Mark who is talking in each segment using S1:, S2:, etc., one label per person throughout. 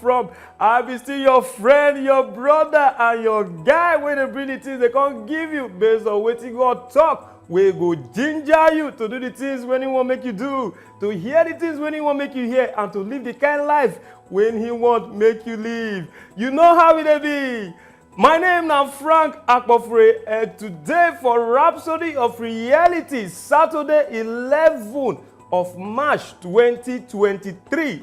S1: from i be still your friend your brother and your guy wey dey bring the things dey come give you based on wetin god talk wey go ginger you to do the things wey he wan make you do to hear the things wey he wan make you hear and to live the kind life wey he want make you live you know how e dey be my name na frank akpofure and today for rhapsody of reality saturday eleven of march twenty twenty three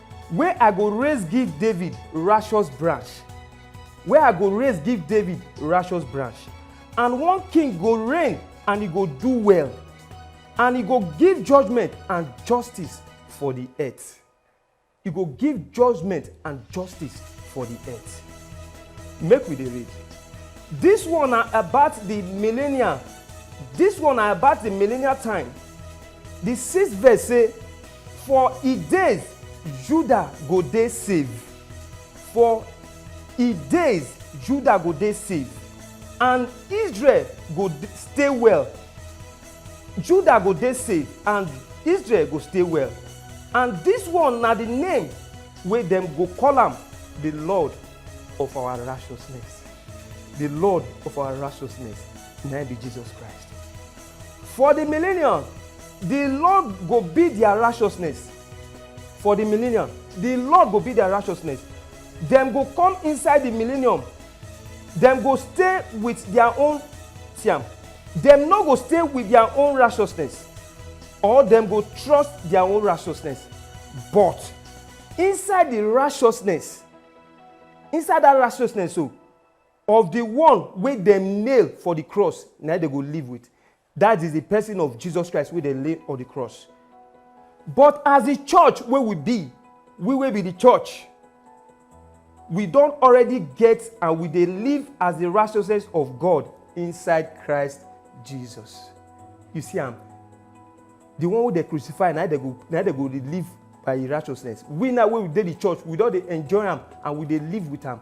S1: Wey I go raise give David rashous branch, Wey I go raise give David rashous branch, And one king go reign and e go do well, And e go give judgment and justice for di eart. E go give judgment and justice for di eart. Make we dey read. Dis one na about di millenial, Dis one na about di millenial time. Di sixth verse sey. For e days Judah go dey save, for e days Judah go dey save, and Israel go stay well, Judah go dey save and Israel go stay well, and dis one na di name wey dem go call am, Di Lord of our righteousness, Di Lord of our righteousness, na im be Jesus Christ. For di millennium, di Lord go be dia righteousness. For di millennium, di Lord go be dia righteousness. Dem go come inside di millennium, dem go stay wit dia own siam. Dem no go stay wit dia own righteousness or dem go trust dia own righteousness. But inside di righteousness, inside dat righteousness so, Of di one wey dem nail for di cross, na im dem go live wit, dat is, di pesin of Jesus Christ wey dem lay on di cross. But as di church wey we be, we wey be di church, we don already get and we dey live as di righteousness of God inside Christ Jesus. You see am? Di one wey dem crucify, na im dem go na im dem go dey live by im righteousness. We now wey we dey di church, we don dey enjoy am and we dey live wit am.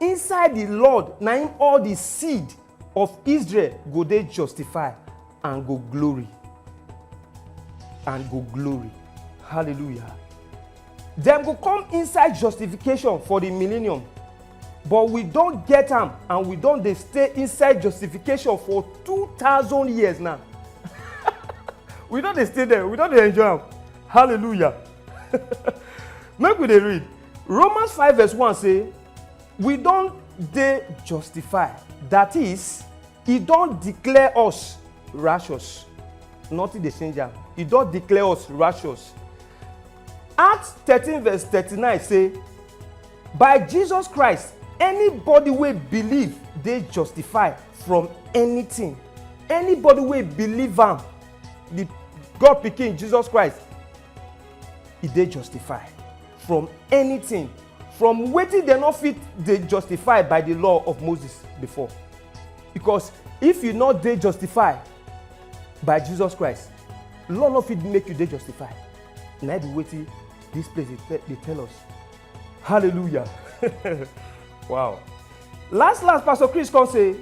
S1: Inside the Lord na im all the seed of Israel go dey justified and go glory. And go glory. Hallelujah. Dem go come inside justification for the millennium. But we don get am and we don dey stay inside justification for 2000 years now. we don dey stay there, we don dey enjoy am. Hallelujah. Make we dey read. Romans 5 verse 1 say, We don dey justify, that is, e don declare us righteous. Nothing dey change am. E don declare us righteous. Acts 13 verse 39 say, By Jesus Christ, anybody wey believe dey justify from anything. Anybody wey believe am, the God pikin Jesus Christ, e dey justify. from anything from wetin dem no fit dey justify by the law of moses before because if you no dey justify by jesus christ law no fit make you dey justify na be wetin this place dey dey tell us hallelujah wow last last pastor chris come say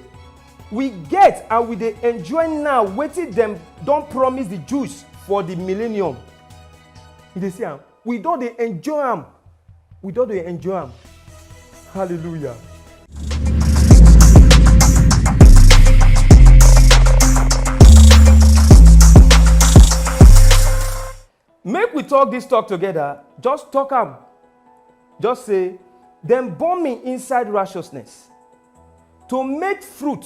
S1: we get and we dey enjoy now wetin dem don promise the jews for the millennium you dey see am We don dey enjoy am. We don dey enjoy am. Hallelujah. Make we talk this talk together. Just talk am. Just say, Dem born me inside righteousness to make fruit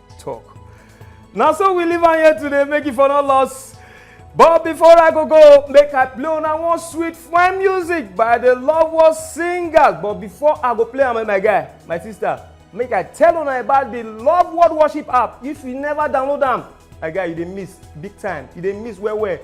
S1: talk. Now so we live on here today, make it for no loss. But before I go go, make I play on one sweet fine music by the Lovewell Singers. But before I go play, I'm my guy, my sister. Make I tell on about the Love World Worship app. If you never download them, my guy, you dey miss big time. You dey miss where where.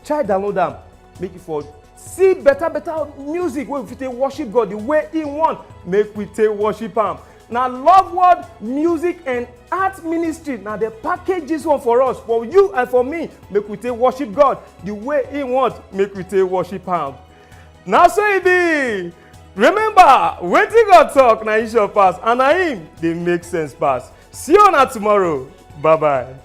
S1: Try download them. make you for see better better music wey we fit take worship god the way he want make we take worship am na love word music and art ministry na dey package this one for us for you and for me make we take worship god the way he want make we take worship am na so e be remember wetin god talk na him sure pass and na him dey make sense pass see una tomorrow bye bye.